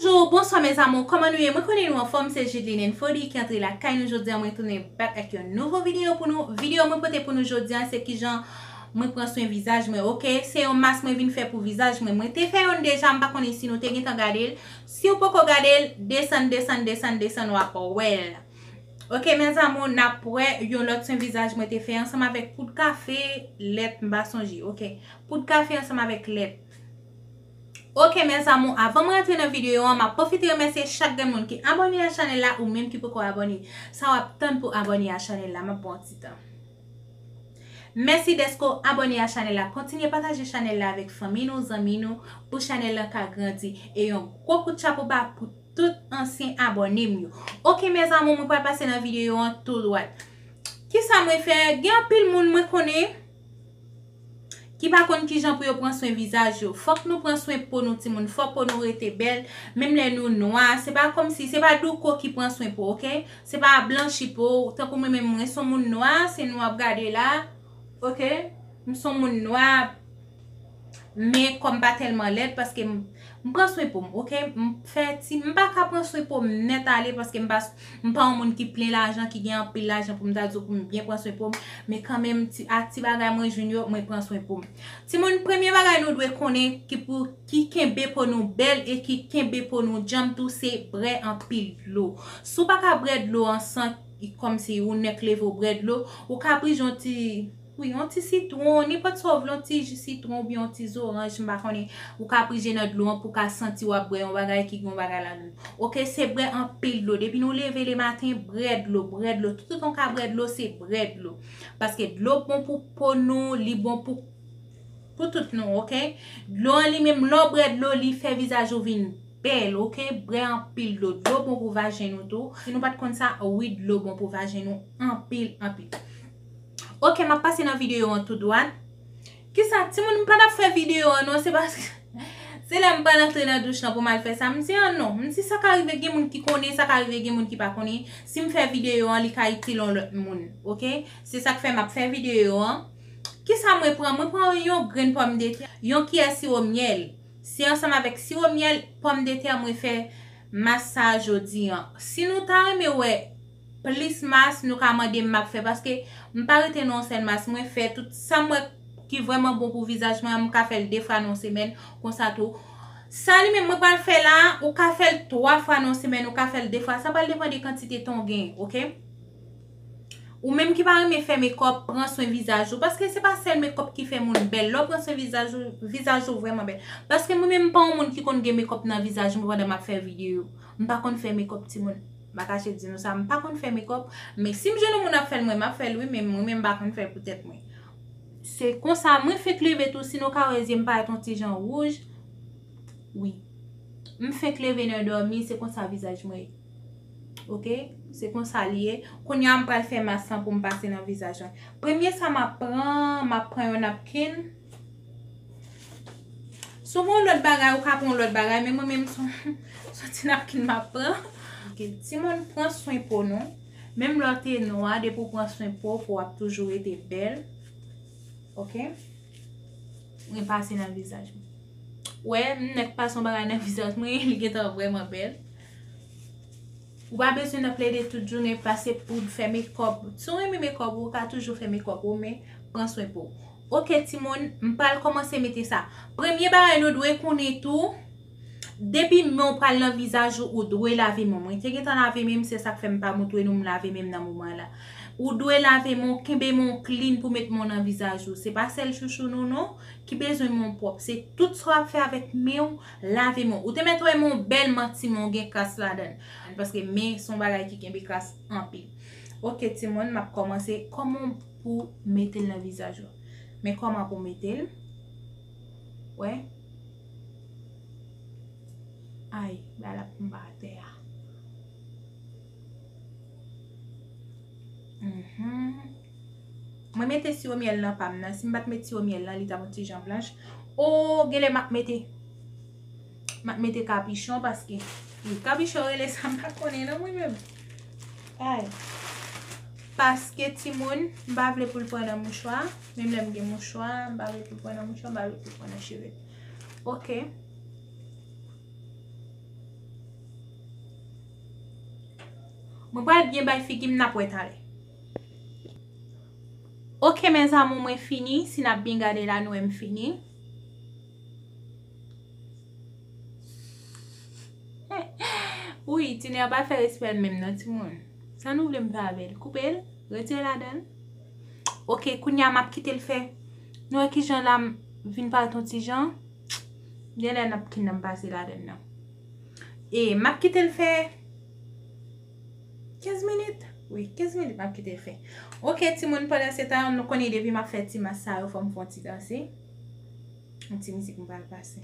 Bonjour, bonswa mes amours kòman nou ye mwen konnen nou anfòm se Judeline and Fody ki antre lakay nou jodia mwen tounen back ak yon nouvo video pou nou video mwen pote pou nou jodia se kijan mwen pran swen vizaj mwen ok se yon mask mwen vin fè pou vizaj mwen mwen te fè yonn deja m pa konnen si nou te gentan gadel siw poko gadel desann desann desann desann wap wèl ok mes amours nap wè yon lòt swen vizaj mwen te fè ansanm avèk poud kafe lèt m pa sonje ok poud kafe ansanm avèk lèt. Ok mes amour avan m rantre nan video an map pwofite remèsye chak grenn moun ki abone a chanel la ou menm ki poko abone sa wap tann pou abone a chanel la map baw ti tan mèsi deske w abone a chanel la kontinye pataje chanel la avèk fanmi nou zanmi nou pou chanel lan ka grandi e yon gwo kout chapo ba pou tout ansyen abone m yo ok mes amour mwen pral pase nan video an tou dwat kisa mwen fè gen anpil moun mwen konnen. ki pa konn kijan pou yo pran swen vizaj yo fòk nou pran swen po nou timoun fò po nou rete bèl menm lè nou nwa se pa kòmsi se pa douko ki pran swen po ok se pa blanchi po tankou mwen menm mwen son moun nwa se nou wap gade la ok m son moun nwa. Men kòm pa tèlman lèd paske m pran swen pou m ok m fè ti m pa ka pran swen po m nèt ale paske m pa m pa yon moun ki plen lajan ki gen anpil lajan pou m ta di w pou m byen pran swen po m men kanmenm ti ak ti bagay mwen jwenn yo mwen pran swen po m timoun premye bagay nou dwe konnen ki pou ki kenbe po nou bèl e ki kenbe po nou djanm tou se bre anpil dlo si w pa ka bre dlo an san kòmsi ou nèk leve w bre dlo ou ka priz yon ti. Wi, yon ti sitwon, nenpòt sa w vle, yon ti ji sitwon oubyen yon ti zoranj, m pa konnen, ou ka prije nan dlo an pou w ka santi w ap bwè yon bagay ki gen yon bagay ladan l. Oke, se bwè anpil dlo. Depi nou leve le maten, bwè dlo, bwè dlo. Toutotan w ka bwè dlo, se bwè dlo. Paske dlo bon pou po nou, li bon pou pou tout nou, oke. Dlo an li menm, lè w bwè dlo, li fè vizaj ou vin bèl, oke. Bwè anpil dlo. Dlo bon pou vajen nou tou. Si nou pa t konn sa, wi dlo bon pou vajen nou anpil, anpil. Ok map pase nan video an tou dwat. Kisa timoun m pa tap fè video an non se paske se lèm pral antre nan douch lan pou mal fè sa m di an non m di sa ka rive gen moun ki konnen sa ka rive gen moun ki pa konnen sim fè video an li ka itil on lòt moun ok se sak fè map fè video an kisa mwen pran mwen pran yon grenn pòmdetè yon kiyè siwo myèl se ansanm avèk siwo myèl pòmdetè mwen fè mas sa jodi an si nou ta renmen wè Plis mas nou ka mande m map fè paske m pa rete nan yon sèl mas mwen fè tout sam wè ki vrèman bon pou vizaj mwen an m ka fèl 2 fwa nan yon semèn konsa tou sa li menm mwen pral fè la a ou ka fèl 3 fwa nan yon semèn ou ka fèl 2 fwa sa pral depan de kantite tan ou gen ok ou menm ki pa renmen fè mekòp pran swen vizaj ou paske se pa sèl mekòp ki fè moun bèl lè w pran swen vizaj ou vizaj ou vrèman bèl paske mwen menm m pa yon moun ki konn gen mekòp nan vizaj mwen pandan map fè videyo m pa konn fè mekòp timoun. Mpa kache di nou sa mpa konn fè mekòp men sim jwenn yon moun ap fèl mwen map fèl wi men mwen menm mpa konn fèl pou tèt mwen se konsa mwen fenk leve tou si nou ka wè zyem parèt yon ti jan wouj wi mfenk leve nan dòmi se konsa vizaj mwen ye ok se konsa li ye kounya mpral fè mas lan poum pase nan vizaj mwen premye sa map pran map pran yon napkin. Si w gen yon lòt bagay, ou ka pran yon lòt bagay, men mwen menm son ti napkin m ap pran. Timoun, pran swen po nou. Menm lè w te nwa, depi w pran swen po w, po w ap toujou rete bèl. Ok? Mwen pase nan vizaj mwen. Ou wè, m nèk pase yon bagay nan vizaj mwen, li gen tan vrèman bèl. Ou pa bezwen nan plede tout jounen pase poud fè mekòp. Si w renmen mekòp ou ka toujou fè mekòp ou men pran swen po w. Ok timoun m pral kòmanse mete sa. Premye bagay nou dwe konnen tou depi men w pral nan vizaj ou ou dwe lave men w. Mwen te gentan lave men m se sak fè m pa moutre nou m lave men m nan moman la. Ou dwe lave men w kenbe men w klin pou met men w nan vizaj ou. Se pa sèl chouchou nou non ki bezwen men w pwòp se tout sa w ap fè avèk men w. Lave men w. Ou te mèt wè men w bèl manti men w gen kras ladan l. Paske men son bagay ki kenbe kras anpil. Ok timoun m ap kòmanse kòman pou mete l nan vizaj ou. Men kòman pou mete l. Wè. Ay bagay la ap tonbe atè a. Mh. Mwen mete siwo myèl nan pam nan, si m pat met siwo myèl nan li tap yon ti jan blanch. Oo genlè map mete map mete kapichon paske wi kapichon rele sa m pa konnen non mwen menm. Ay paske timoun m pa vle pou l pran nan mouchwa, menm lè m gen mouchwa m pa vle pou l pran nan mouchwa m pa vle pou l pran nan cheve. Ok. Mwen pral byen bay figi m nap wè talè. Ok mes amour mwen fini si nap byn gade la nou wè m fini Wouyy tine an pa fè respèl menm non timoun sa nou vle m fè avèl koupel retire ladanl ok kounya map kitel fè nou wè kijan la vin parèt yon ti jan genlè nap kinan pase ladann nan e map kitel fè. 15 minit wi 15 minit map kite fe ok timoun pandan se tan nou konnen depi map fe ti mas sa yo fom fon ti danse yon ti mizik m pral pase.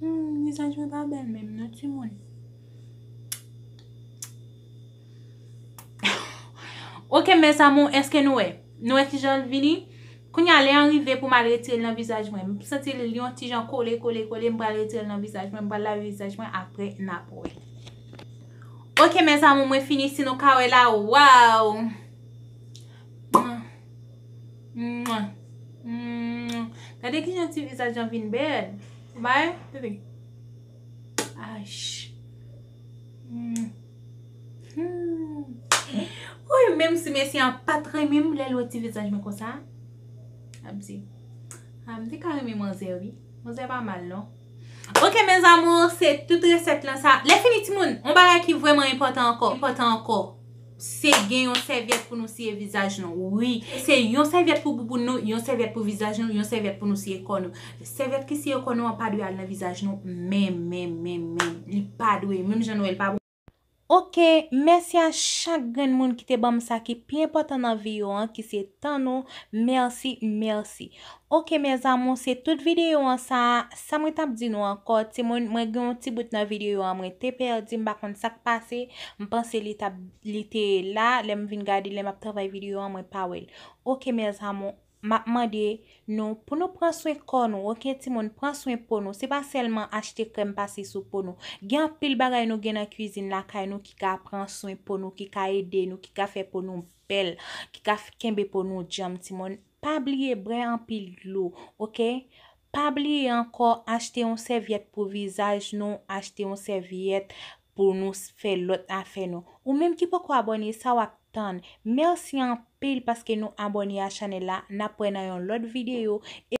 Humm vizaj mwen pa bèl menm non timoun Ok mes amour eske nou wè Nou wè kijanl vini Kounya lè an rive poum al retirel nan vizaj mwen M santi li yon ti jan kole kole kole m pral retirel nan vizaj mwen m pral lave vizaj mwen aprè nap wè Ok mes amour mwen fini si nou ka wè la waww. Gade kijan ti vizaj lan vin bèl. Bay, bebe. Woy, menm si mesye an pat renmen m, lè l wè ti vizaj mwen konsa, l ap di, a, m te ka renmen manzè wi. Manzè pa mal non. Ok mes amours, se tout resèt lan sa. Lèfini timoun, yon bagay ki vrèman enpòtan ankò. Se gen yon sèvyèt pou nou siye vizaj nou wi. Se yon sèvyèt pou bouboun nou, yon sèvyèt pou vizaj nou, yon sèvyèt pou nou siye kò nou. Sèvyèt ki siye kò nou an pa dwe al nan vizaj nou menm menm menm menm. Li pa dwe. Menm jan nou wè l pa bon. Ok, mèsi a chak grenn moun ki te banm sa ki pi enpòtan nan vi yo an ki se tan nou, mèsi, mèsi. Ok mes amour se tout video an sa sa mwen tap di nou ankò timoun mwen gen yon ti bout nan video an mwen te pèdi m pa konn sak pase m panse li tap li te la lèm vin gade lèm ap travay video an mwen pa wèl ok mes amour map mande nou pou nou pran swen kò nou ok timoun pran swen po nou se pa sèlman achte krèm pase sou po nou gen anpil bagay nou gen nan kwizin lakay nou ki ka pran swen po nou ki ka ede nou ki ka fè po nou bèl ki ka kenbe po nou djanm timoun. Pa bliye brè anpil dlo ok. Pa bliye ankò achte yon sèvyèt pou vizaj nou achte yon sèvyèt pou nou fè lòt afè nou ou menm ki poko abòne sa wap tann merci anpil paske nou abòne a chanèl la nap wè nan yon lòt video e